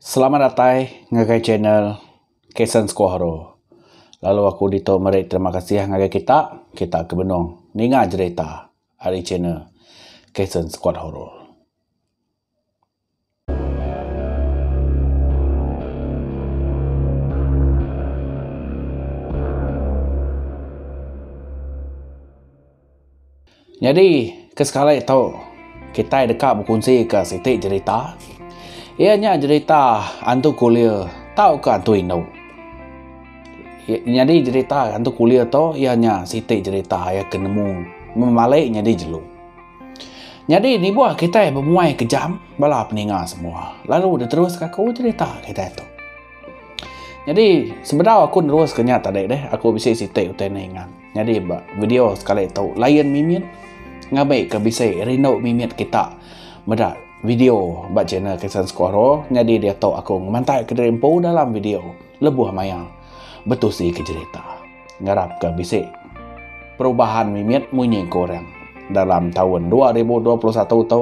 Selamat datai ngagai channel Kason Sekuahoro. Lalu aku ditu meri terima kasih ngagai kita, kita ke benung ninga jerita ari channel Kason Sekuahoro. Nyadi ke sekali tu kitai deka bekunsi ke siti jerita iya nya jerita hantu kulir tauka hantu indu. Nyadi jerita hantu kulir tu iya nya siti jerita iya ke nemu mung male nyadi jelu. Nyadi nibuh kitai bemuai kejam bala peninga semua lalu diteruska ku jerita kitai tu. Nyadi sebedau aku neruska nya tadi deh aku bisi siti utai ne ingat. Nyadi ba video sekali tu lain mimit ngabai ke bisi rindu mimit kita meda video ba channel Kisan Skoro nyadi dia tu aku ngemantai ke diri empu dalam video lebuh maya betusi ke cerita. Ngarap ke bisi perubahan mimit munyi ku orang dalam tahun 2021 tu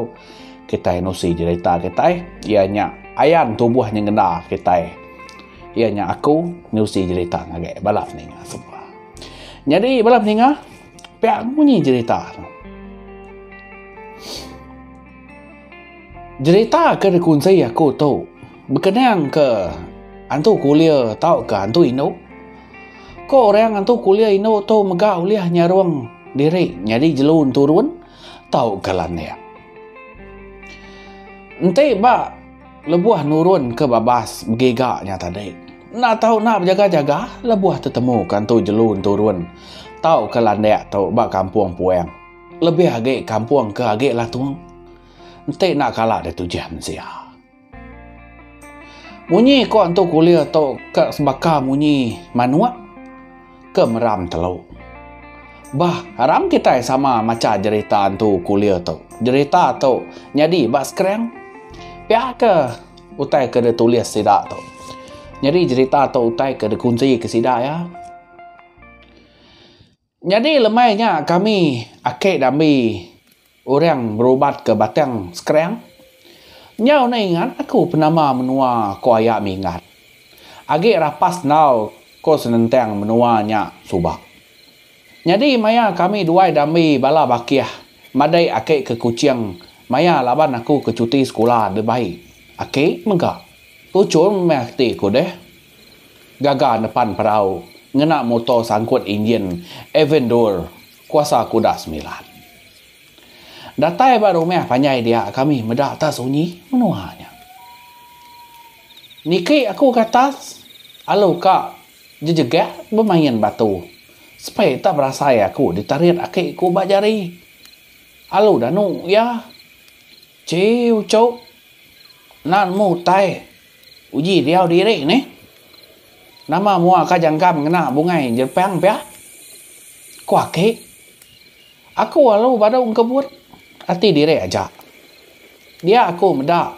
kita nusi cerita kita ia nya ayan tubuh nyengenda kita ia nya aku nusi cerita ngagai bala ninga semua. Nyadi bala peninga pia munyi jerita tu. Jerita ke dikunsi aku tu bekenang ke antu kulia tau ke antu indu. Ko orang antu kulia indu tu mega ulih nyarung diri nyadi jelu enturun tau ke landik. Enti ba Lebuh nurun ke babas begiga nya tadi, enda tau enda bejaga-jaga lebuh tetemu ke Entu Jelu Enturun tau ke landik tu ba kampung Puang. Lebih agi kampung ke agi latung. Enti enda kala deh tujih mensia. Munyi ko Entu Kulir tu ka sebaka munyi manuk. ke meram telu. Bah, aram kitai sama macha jerita entu kulir tu. Jerita tu nyadi ba skrin. Pia ke utai ke ditulis sida tu. Nyadi jerita tu utai ke dikunti ke sida iya. Nyadi lemai nya kami ake dambi Orang berubat ke batang sekerang. Nyau ne ingat aku penama menua ko aya minggat. Agi rapas enggau ko senentang menua nya suba. Nyadi maya kami duai dambi bala bakih madai aki ke Kuching maya laban aku ke cuti sekula dibai aki mega. Tuchul meh reti ku deh. Gaga nepan perau ngena motor sangkut injin Avendur. Kuasa aku dah semilan. Datai ba rumah panjai dia kami meda atas sunyi menua nya. Niki aku ke atas alu ka jejegak bemain batu. Sepai tak berasai aku ditarit aki ku ba jari. Alu danu iya. Chee uchu. Enda nemu utai. Uji diau diri nih. Nama mua ka jangkam ngena bungai jerepang pia? Ku aki. Aku alu badu engkebut ati diri aja. Dia aku meda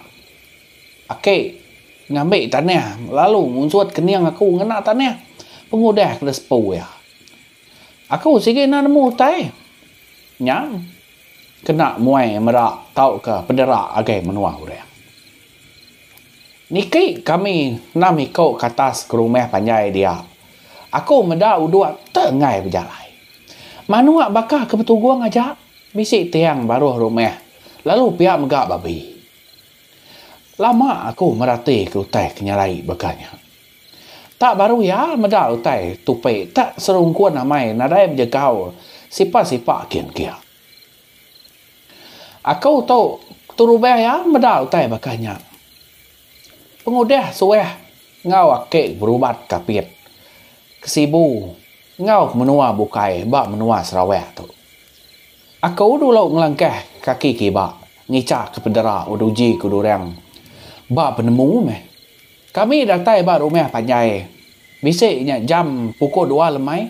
aki ngambi tanah lalu ngunsut kening aku ngena tanah pengudah ke disepu iya. Aku sigi enda nemu utai. Nyam. Kena muai mera tauka pedera agai menua orang. Niki kami enam iko ke atas ke rumah panjai dia. Aku meda udok te enggai bejalai. Manok baka ke betugong aja bisi tiang baruh rumah lalu pia mega babi. Lama aku merati ke utai ke nyalai baka nya. Tak baru iya meda utai tupi tak serungkun amai nadai bejegau sipa sipa kin kia. Aku tu keturubah iya meda utai baka nya. Pengudah suah enggau aki berubat kapit ke Sibu enggau ke menua bukai ba menua Sarawak tu. Aku dulu ngelangkah kaki kiba ngicha ke pedera uduji ke durang ba penemu meh. Kami datai ba rumah panjai bisi nya jam pukul dua lemai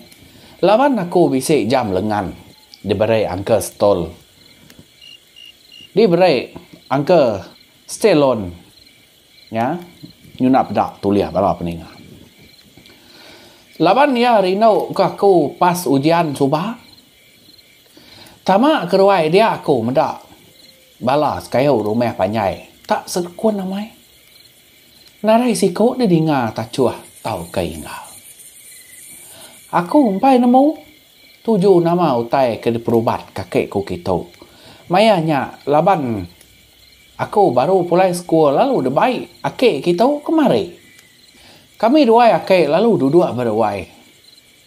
laban aku bisi jam lengan diberi Uncle Stol diberi Uncle Stelon nya nyuna peda tulih bala peninga. Laban iya rindu ke aku pas ujian suba. Tama keruai dia aku meda bala sekayu rumah panjai tak sekun amai. Ngarai siko da dinga tachuh tauka ingau. Aku empai nemu tuju nama utai ke diperubat kaki ku kitu. Maya nya laban aku baru pulai sekul lalu debai aki kitu kemari. Kami duai aki lalu duduk beruai.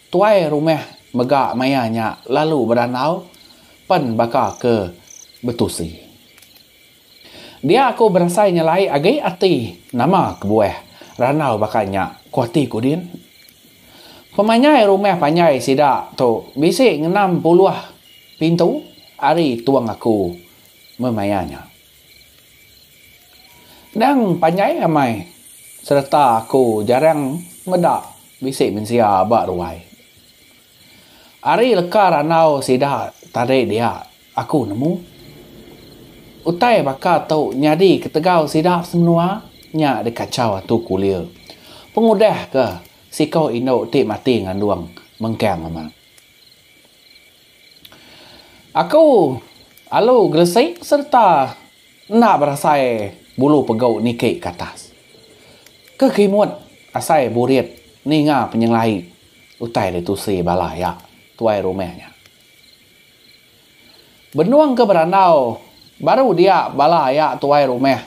Tuai rumah mega maya nya lalu berandau pen baka ke betusi. Dia aku berasai nyelai agi ati nama kebuah randau baka nya, ku ati ku din. Pemanyai rumah panjai sida tu bisi ngenam puluh pintu ari tong aku memaya nya. Endang panjai amai sereta aku jarang meda bisi mensia ba ruai. Ari leka randau sida tadi dia, Aku nemu utai baka tu nyadi ketegal sida semenua nya dikachau Atu Kulir pengudah ke siko indu ti mati ngandung mengkang amat. Aku alu gresik sereta enda berasai bulu pegu niki ke atas. Ke kimut asai burit ninga penyengelai utai ditusi bala iya tuai rumah nya. Benung ke berandau baru dia bala aya tuai rumah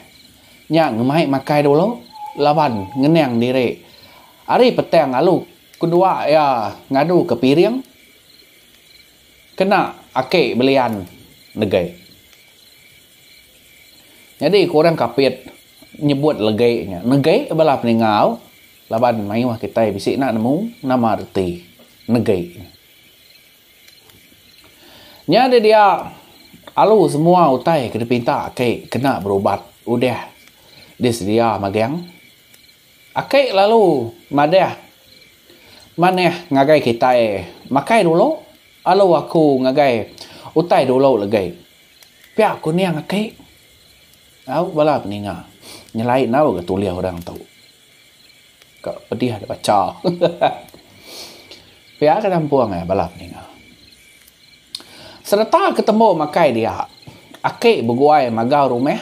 nya ngemai makai dulu laban ngenang diri. Ari petang lalu kedua iya ngadu ke piring kena aki belian negei. Nyadi ke orang Kapit nyebut legi nya negei bala peningau laban mayuh kitai bisi enda nemu nama reti negei. Nyadi dia alu semua utai ke dipinta aki kena berubat udah disedia magang. Aki lalu madah manah ngagai kitai makai dulu alu aku ngagai utai dulu legi. Pia kuning aki. Au bala peninga nyelai enggau ga tulih orang tu. Ka pedih agi bacha. Pia ke kampung ai bala peninga. Sereta ke tembu makai dia, aki beguai magau rumah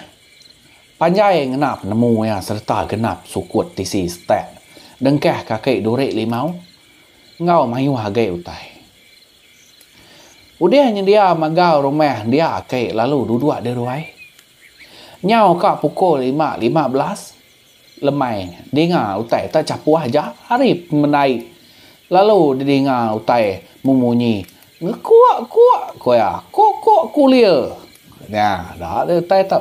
panjai ngena penemu iya sereta genap sukut tisi setak dengkah kaki duri limau enggau mayuh agi utai. Udah nyendia magau rumah dia aki lalu duduk di ruai. Nyau ka pukul lima lima belas. Lemai dinga utai ta chapuh aja ari pemendai lalu didinga utai memunyi ngekuak kuak ku iya kok kok kulir nya da deh utai tu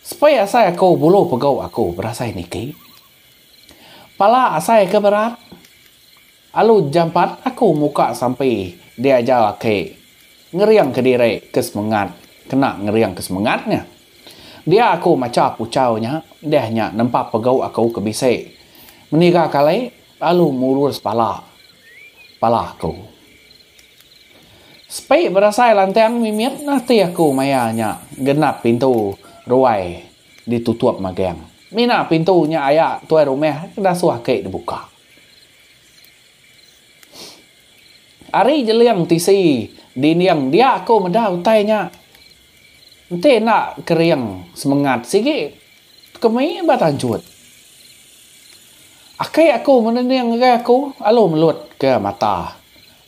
sepei asai aku bulu pegau aku berasai niki pala asai ke berat. Alu jampat aku muka sampi dia aja laki ngering ke diri ke semengat kena ngering ke semengat nya. Dia aku macha puchau nya deh nya nempa pegau aku ke bisi meniga kali lalu murus pala pala aku. Sepi berasai lantang mimit ati aku maya nya genap pintu ruai ditutup magang. Mina pintu nya aya tuai rumah ke dasuh aki dibuka. Ari Jeling tisi dinding dia aku meda utai nya. Enti enda kering semengat sigi kemi ba tanjut. Aki aku menening ngagai aku lalu melut ke mata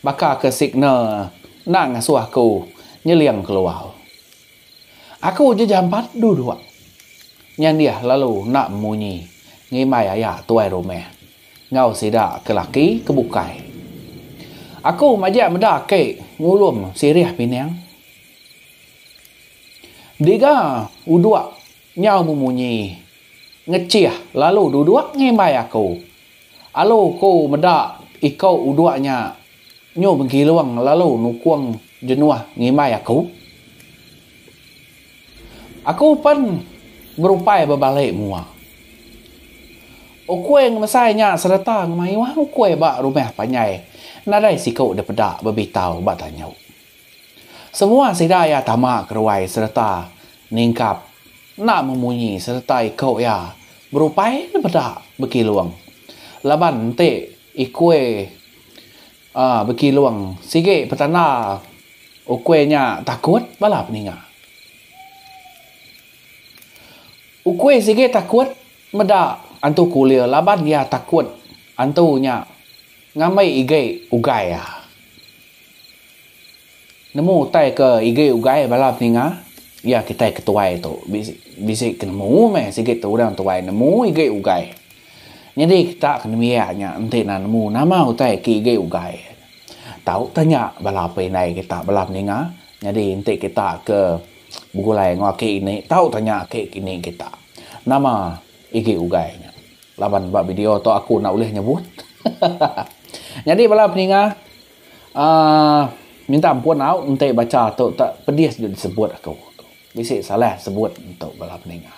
baka ke signal enda ngasuh aku nyeling keluar. Aku uji jampat duduk. Nyandih lalu enda munyi ngimbai aya tuai rumah enggau sida ke laki ke bukai. Aku majak meda ke ngulum sirih pinang. Diga uduk nyau memunyi ngechih lalu duduk ngimbai aku. Alu ku meda ikau udok nya nyu begilung lalu nukung jenuh ngimbai aku. Aku pen berupai bebalik mua. Ukui ngemesai nya sereta ngemayuh ukui ba rumah panjai nadai siku depeda bebitau ba tanyu. Semua sida iya tama keruai sereta ningkap enda memunyi sereta iku iya berupai dipeda Bekilung laban enti ikui uhh Bekilung sigi petanda ukui nya takut bala peninga. Ukui sigi takut meda Antu Kulir laban iya takut antu nya ngambi igi ugai iya. Nemu utai ke igi ugai bala peninga iya kitai ke tuai tu bisi ke nemu meh sigi tu orang tuai nemu igi ugai nyadi kita ke nembiak nya enti enda nemu nama utai ke igi ugai tau tanya bala indai kita bala peninga nyadi enti kita ke begulai enggau aki ini tau tanya aki kini kita nama igi ugai nya laban ba video tu aku enda ulih nyebut hahaha nyadi bala peninga. Aaa minta ampun au enti bacha tu tak pedis deh disebut aku bisi salah sebut tu bala peninga.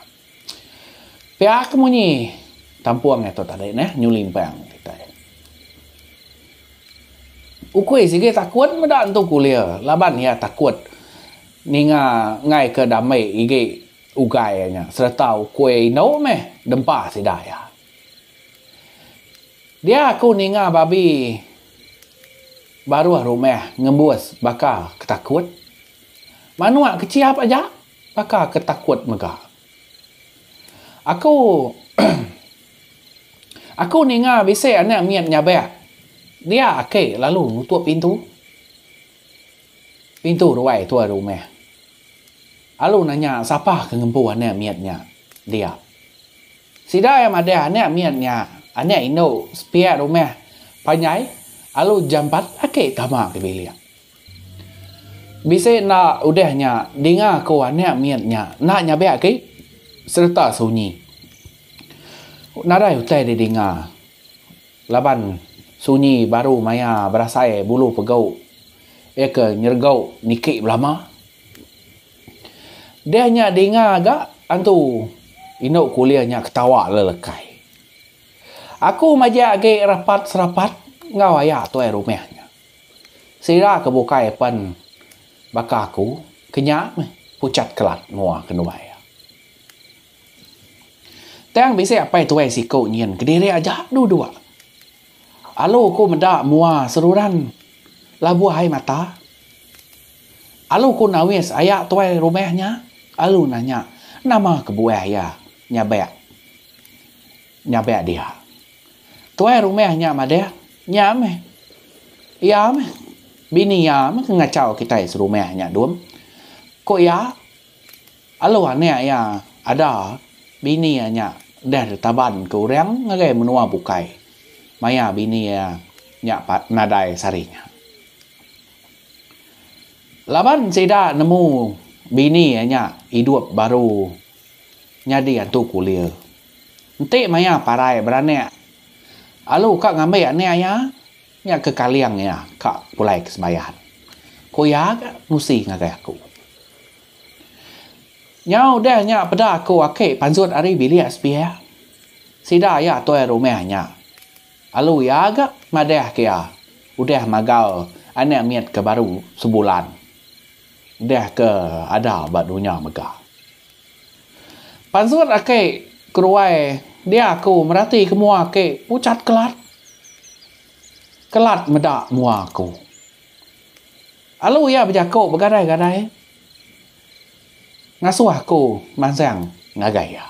Pia ke munyi kampung ito tadi neh New Limpang kitai. Ukui sigi takut meda entu kulir laban iya takut ninga enggai ke dame igi ugai nya sereta ukui endo meh dempa sida iya. Dia aku ninga babi baruh rumah ngembus baka ke takut. Manuk ke chiap aja baka ke takut mega. Aku aku ninga bisi anak mit nyabak. Dia ake lalu nutup pintu. Pintu ruai tuai rumah. Alu nanya sapa ke ngempu anak mit nya dia. Sida iya madah anak mit nya anak indu sepiak rumah panjai alu jampat aki tama ke bilik. Bisi enda udah nya dinga ku anak mit nya enda nyabak aki sereta sunyi. Nadai utai didinga. Laban sunyi baru maya berasai bulu pegau iya ke nyeregau niki belama. Deh nya dinga ga antu indu kulih nya ketawa lelekai. Aku majak agi rapat serapat enggau aya tuai rumah nya. Sida ke bukai pen baka aku ke nya meh pucat kelat mua ke nuai iya. Tang bisi apai tuai siku nyin kediri aja dua-dua. Alu ku meda mua seruran labuh ai mata. Alu ku nawis aya tuai rumah nya. Alu nanya, nama kebuah iya nyabak nyabak dia. Tuai rumah nya madah, nya meh. Iya meh. Bini iya meh ke ngachau kitai serumah nya dum. Ku iya, Alu anak iya ada bini iya nya deh ditaban ke orang ngagai menua bukai maya bini iya nya nadai sehari nya. Laban sida nemu bini iya nya idup baru nyadi antu kulir. Enti maya parai beranak, Alu ka ngambi anak iya nya ke kaling iya ka pulai ke Sebayan. Ku iya ka nusi ngagai aku. Nyau udah nya peda aku aki panzut ari bilik sepiak. Sida iya tuai rumah nya. Lalu iya ga madah ke iya udah magal anak mit ke baru sebulan udah ke ada ba dunya mega. Panzut aki keruai dia aku merati ke mua aki pucat kelat. Kelat meda mua aku. Lalu iya bejaku begadai-gadai ngasuh aku mansang ngagai iya.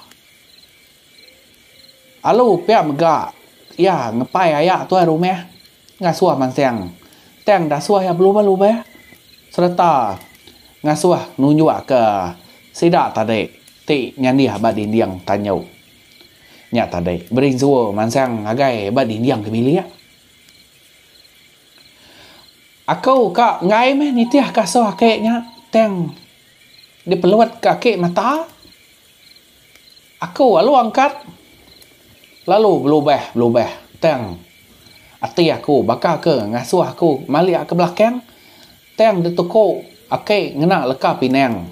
Lalu pia mega iya ngepai aya tuai rumah ngasuh mansang tang dasuh iya belubah-lubah sereta ngasuh nunjukka sida tadi ti nyandih ba dinding tanyu nya tadi berinsu mansang ngagai ba dinding ke bilik. Aku ka enggai meh nitih ka asuh aki nya tang dipelut ka aki mata aku lalu angkat lalu belubeh belubeh tang ati aku baka ke ngasuh aku malik ke belakang tang dituku aki ngena leka pinang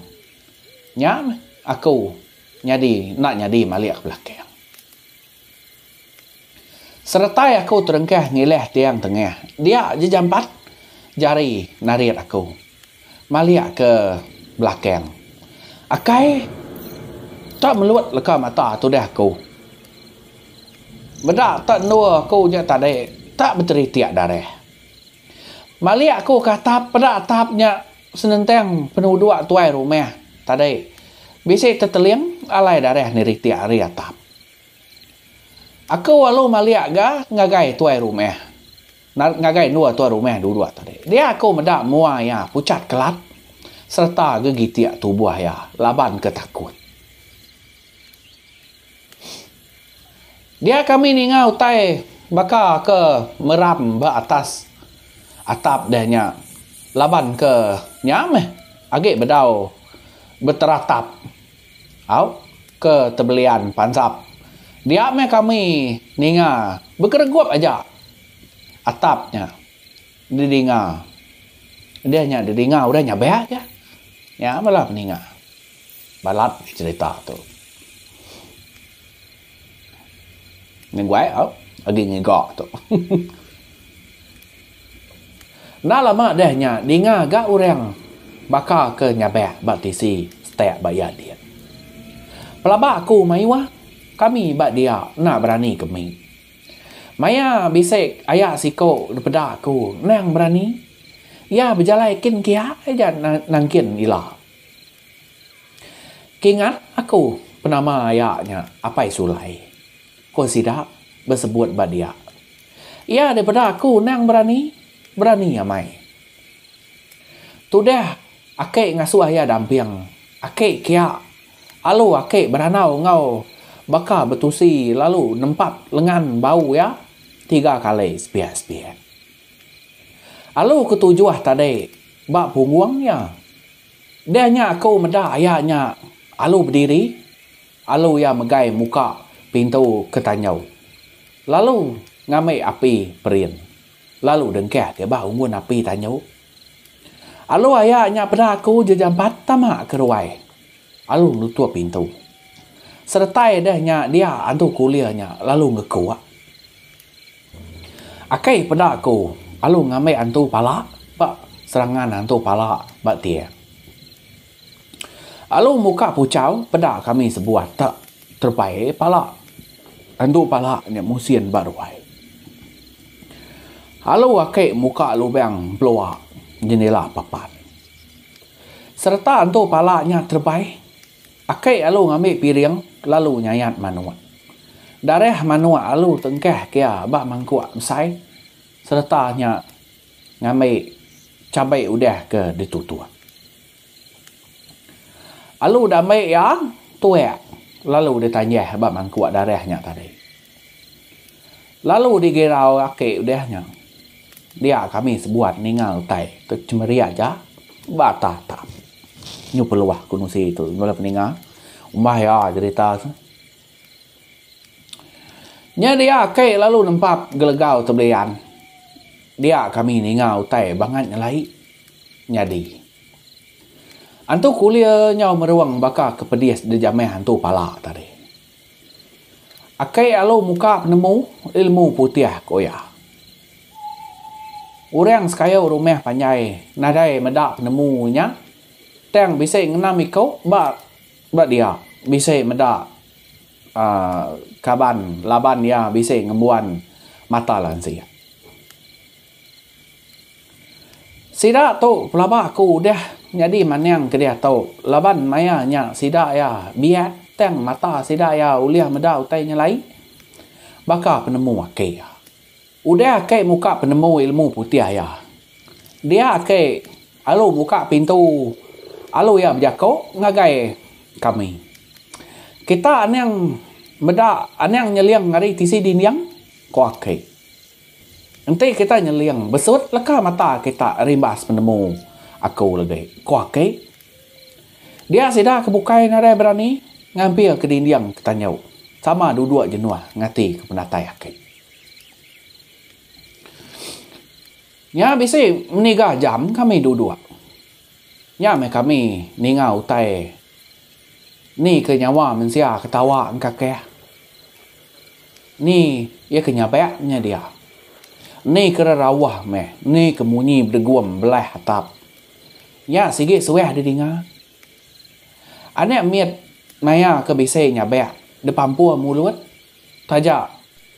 nya meh aku nyadi enda nyadi malik ke belakang. Seretai aku terengkah ngilih tiang tengah, dia je jampat jari narit aku malik ke belakang. Akai tak melut leka mata tudah aku. Meda tak endor aku nya tadi tak beteritik darah. Malik aku ke atap peda atap nya senentang penuduk tuai rumah tadi bisi teteling alai darah neritik ari atap. Aku alu maliak ga ngagai tuai rumah. Ngagai endua tuai rumah duduk tadi. Dia aku meda mua iya pucat kelat sereta gegitik tubuh iya laban ke takut. Dia kami ninga utai baka ke meram ba atas atap deh nya laban ke nya meh agi bedau beteratap. Au ke tebelian pansap. Dia meh kami ninga begeregup aja atap nya didinga. Deh nya didinga udah nya beh aja. Nya bala peninga. Balat cherita tu. Ngeguai au agi ngiga tu. Enda lama deh nya dinga ga orang baka ke nyabak ba TV stek ba iya din. Pelaba aku mayuh kami ba dia enda berani ke mih. Maya bisi aya siko dipeda aku endang berani. Iya bejalai kin kiya aja nangkin ila. Kingat aku penama aya nya Apai Sulai, ko sida besebut ba dia. Iya daripada aku endang berani, berani amai. Tudah ake ngasuh iya damping, ake kia alu ake berandau enggau baka betusi lalu nempat lengan bau iya tiga kali sepiak-sepiak. Alu ketujuh tadi ba punggung iya. Deh nya aku meda aya nya alu bediri alu iya megai muka pintu ke tanjau lalu ngambi api perin lalu dengkah ke bah unggun api tanjau. Alu aya nya peda aku je jampat tama ke ruai alu nutup pintu. Seretai deh nya dia antu kulir nya lalu ngekuk. Akei peda aku alu ngambi antu pala ba serangan antu pala ba tie. Alu muka puchau peda kami sebuah tak terepai pala antu pala nya musin ba ruai. Alu ake muka lubang pelua jendela papan. Sereta antu pala nya terepai. Aki alu ngambi piring lalu nyayat manuk. Darah manuk alu tengkah kia ba mangkuk besai sereta nya ngambi cabai udah ke ditutuk. Alu diambi iya tuak lalu ditanjah ba mangkuk darah nya tadi. Lalu digirau laki udah nya, dia kami sebuat ninga utai ke cemeri aja ba atas tam. Nyu peluah ku nusi tu bala peninga umbah iya jerita tu. Nya dia ake lalu nempap gelegau tu belian. Dia kami ninga utai bangat nyelai nyadi. Antu kulir nyau merung baka ke pedis dijamah antu pala tadi. Aki alu muka penemu ilmu putih ku iya. Orang sekayu rumah panjai nadai meda penemu inya tang bisi ngenam iku ba ba dia bisi meda aaa kaban laban iya bisi ngembuan mata lansi. Sida tu pelaba aku udah nyadi maning ke diatu laban maya nya sida iya biak tang mata sida iya ulih meda utai nyelai baka penemu ake iya. Udah ake muka penemu ilmu putih iya dia ake alu muka pintu alu iya bejaku ngagai kami. Kita aning meda aning nyeling ari tisi dinding ko ake. Enti kita nyeling besut leka mata kita rimbas penemu aku legi, ku aki. Dia sida ke bukai nadai berani ngampir ke dinding ke tanyu sama duduk jenuh ngati ke penatai aki. Nya bisi meniga jam kami duduk. Nya meh kami ninga utai ni ke nyawa mensia ketawa engkakih. Ni iya ke nyabak nya dia. Ni ke rerawah meh ni ke munyi bedegum belah atap. Nya sigi suah didinga. Anak mit naya ke bisi nyabak depampur mulut taja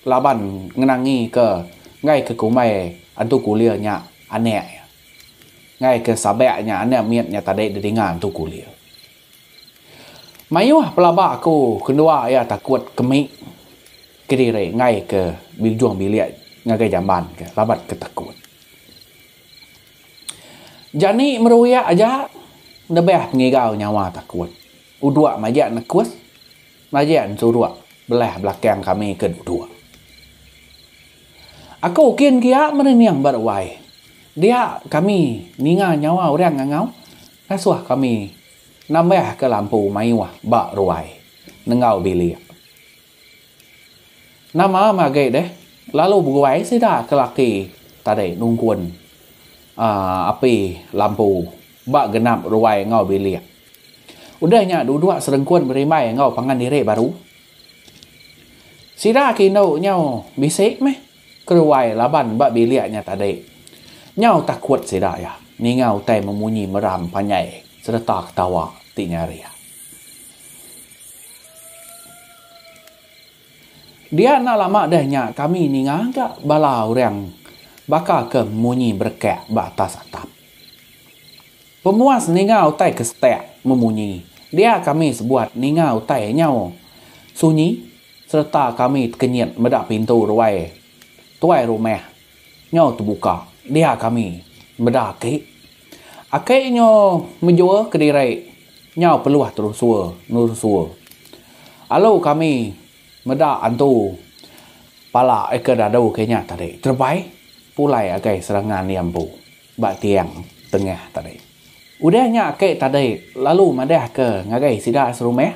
laban ngenangi ke enggai ke kumbai antu kulir nya anak iya. Enggai ke sabak nya anak mit nya tadi didinga antu kulir. Mayuh pelaba aku kendua iya takut ke mik kediri enggai ke ujung bilik ngagai jamban ke laban ke takut. Jani meruik aja nebeh pengigau nyawa takut. Uduk maja nekus maja enturuk belah belakang kami ke duduk. Aku kin gia merening ba ruai dia kami ninga nyawa orang ngangau. Ngasuh kami nambahka lampu mayuh ba ruai nenggau bilik. Nama am agi deh lalu beguai sida ke laki tadi nungkun uhh api lampu ba genap ruai enggau bilik. Udah nya duduk serengkun berimbai enggau pangan diri baru. Sida ke indu nyau bisi meh. Keruai laban ba bilik nya tadi. Nyau takut sida iya ninga utai memunyi meram panjai sereta ketawa ti nyaring. Dia enda lama deh nya kami ninga ga bala orang baka ke munyi berekak ba atas atap. Pemuas ninga utai ke setak memunyi, dia kami sebuat ninga utai nyau sunyi sereta kami tekenyit meda pintu ruai tuai rumah nyau tebuka, dia kami meda aki aki nyo mejur kediri nyau peluh terusur nerusur alu kami meda antu pala ika dadu ke nya tadi terebai pulai agai serangan iya empu. Ba tiang tengah tadi. Udah nya aki tadi lalu madahka ngagai sida serumah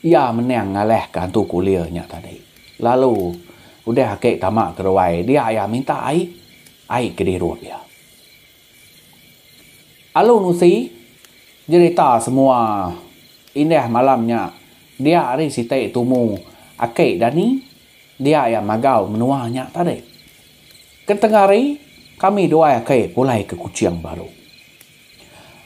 iya menang ngalahka hantu kulir nya tadi. Lalu udah aki tama ke ruai dia iya minta ai, ai ke dirup iya. Alu nusi jerita semua indah malam nya dia ari siti tumu aki Dani dia iya magau menua nya tadi. Ke tengah hari, kami dua aki pulai ke Kuching baru.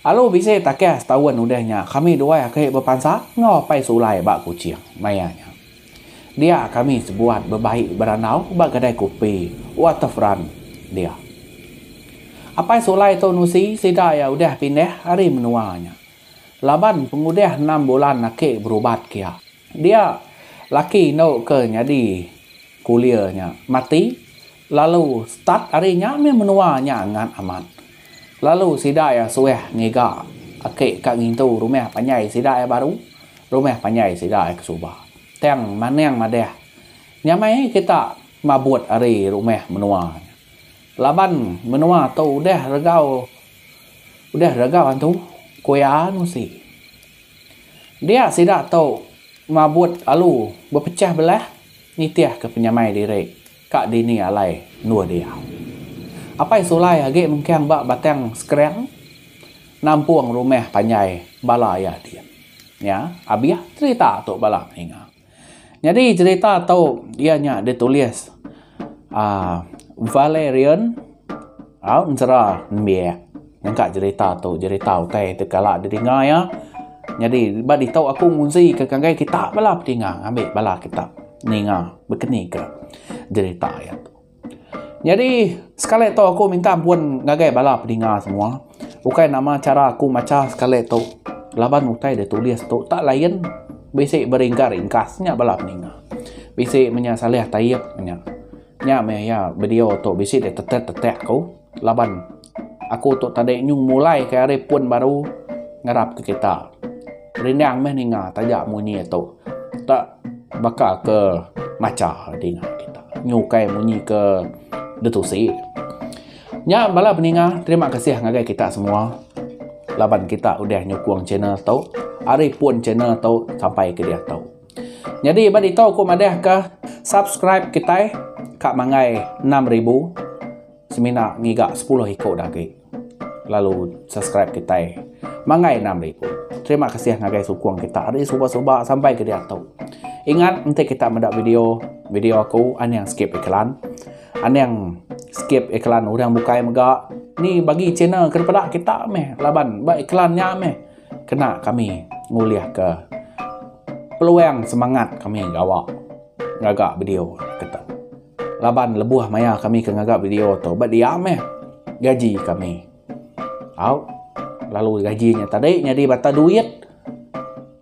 Alu bisi takah setaun udah nya, kami dua aki bepansa enggau apai sulai ba Kuching maya nya. Dia kami sebuat bebai berandau ba kedai kopi Waterfront dia. Apai sulai tu nusi sida iya udah pindah ari menua nya laban pengudah enam bulan aki berubat ke iya. Dia, laki endo ke nyadi kulir nya mati lalu start ari nya meh menua nya ngat amat. Lalu sida iya suah ngiga ake ka ngintu rumah panjai sida iya baru, rumah panjai sida iya ke suba. Tang manang madah nyamai kita mabut ari rumah menua nya. Laban menua tu udah regau udah regau antu, ku iya nusi. Dia sida tu mabut lalu bepechah belah nitihka penyamai diri ka dini alai endur dia. Apai Sulai agi mengkang ba Batang Sekerang nampung rumah panjai bala iya diam. Nya abih cherita tu bala ninga. Nyadi cerita tu iya nya ditulis aaa Valerian au Enzera nembiak nyangka cerita tu cerita utai ti kala didinga iya nyadi ba ditu aku nguzi ka ngagai kita bala pedinga ambi bala kita ninga bekenika cerita iya tu. Nyadi sekali tu aku minta ampun ngagai bala pedinga semua bukai nama chara aku macha sekali tu laban utai da tulis tu tak lain bisi beringka ringkas nya bala peninga bisi menya salih taib nya nya meh iya video tu bisi ditetek tetek ku. laban aku tu tadi nyung mulai ke ari pun baru ngarap ke kita rindang meh ninga taja munyi tu tak baka ke macha dinga kita nyu ukai munyi ke detusi nya bala peninga terima kasih ngagai kita semua laban kita udah nyukung channel tu ari pun channel tu sampai ke diatu. Nyadi ba ditu aku madah ka subscribe kitai ka manggai enam ribu semina ngiga sepuluh iko dah agi lalu subscribe kitai manggai enam ribu. Terima kasih ngagai sukung kita ari suba suba sampai ke diatu. Ingat enti kita meda video video aku anang skip iklan anang skip iklan orang bukai mega ni bagi channel ke peda kita meh laban ba iklan nya meh. Kena kami ngulihka peluang semangat kami gawa ngaga video ketu. Laban lebuh maya kami ke ngaga video tu ba dia meh gaji kami. Au lalu gaji nya tadi nyadi mata duit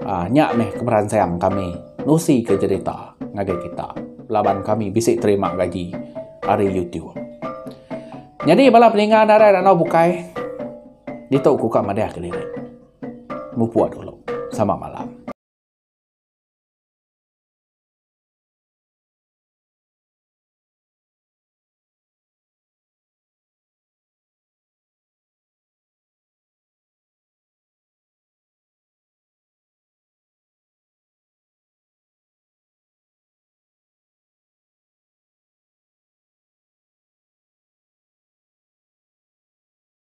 uh, nya meh kemeransang kami nusi ke cerita ngagai kita laban kami bisi terima gaji hari YouTube. Jadi bala peninga narai ranau bukai Ditu ku ka madah kelirik. Mupuk dulu. Sama malam.